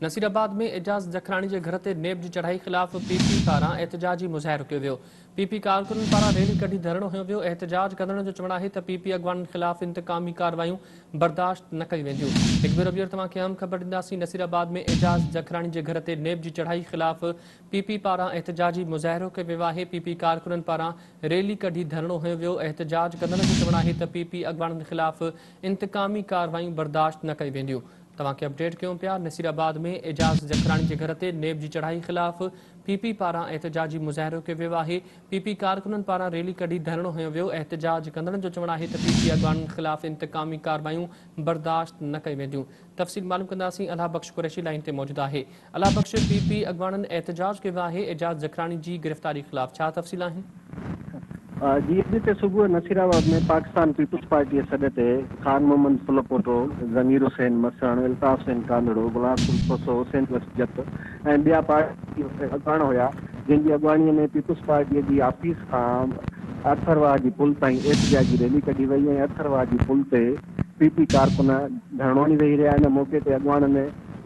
نصيرآباد ۾ اعجاز جکراڻي جي گهر تي نيب جي چڙهائي خلاف پي پي پاران احتجاجي مظاهرو ڪيو ويو، پي پي ڪارڪنن پاران ريلي ڪڍي ڌرڻو هنيو ويو، احتجاج ڪندڙن جو چوڻ آهي ته پي پي اڳواڻن خلاف انتقامي ڪارروايون برداشت نه ڪيون وينديون، هڪڀيرو ٻيهر توهان کي اهم خبر ڏينداسين، نصيرآباد ۾ اعجاز جکراڻي جي گهر تي نيب جي چڙهائي خلاف پي پي پاران احتجاجي مظاهرو ڪيو ويو آهي، پي پي ڪارڪنن پاران ريلي ڪڍي ڌرڻو هنيو ويو، احتجاج ڪندڙن جو چوڻ آهي ته پي پي اڳواڻن خلاف انتقامي ڪارروايون برداشت نه ڪيون وينديون. توهان کي اپڊيٽ ڪيون پيا نصير آباد ۾ اعجاز جکراڻي جي گهر تي نيب جي چڙهائي خلاف پي پي پاران احتجاجي مظاهرو ڪيو ويو آهي پي پي ڪارڪنن پاران ريلي ڪڍي ڌرڻو هنيو ويو احتجاج ڪندڙن جو چوڻ آهي ته پي پي اڳواڻن خلاف انتقامي ڪارروايون برداشت نه ڪيون وينديون تفصيل معلوم ڪنداسين الهه بخش قريشي لائين تي موجود آهي الله بخش پي پي اڳواڻن احتجاج ڪيو آهي اعجاز ذڪراڻي جي گرفتاري خلاف ڇا تفصيل آهن؟ جي اڄ تي صبح Nasirabad ۾ Pakistan Peoples Party جي سڏ تي خان محمد ڦلپوٽو، ضمير حسين مسڻ، الطاف حسين ڪانڌڙو، غلام قلي کوسو، حسين بخش جت ۽ ٻيا پارٽي اڳواڻ هيا جن جي اڳواڻي ۾ پيپلز پارٽي جي آفيس کان اٿر واهه جي پل تائين احتجاجي ريلي ڪڍي وئي ۽ اٿر واهه جي پل تي پي پي ڪارڪن ڌرڻو هڻي ويهي رهيا ان موقعي تي اڳواڻن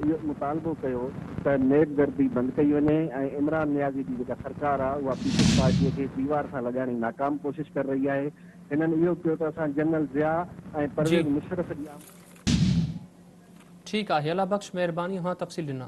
اهو مطالبو ڪيو ته نيب گردي بند ڪئي وڃي ۽ عمران نيازي جي جيڪا سرڪار آهي اها پيپلز پارٽي کي ديوار سان لڳائڻ جي ناڪام ڪوشش ڪري رهي آهي هنن اهو ڪيو ته اسان جنرل ضياء ۽ پرويز مشرف جي آمد ٺيڪ آهي الله بخش مهرباني اوهان تفصيل ڏنا.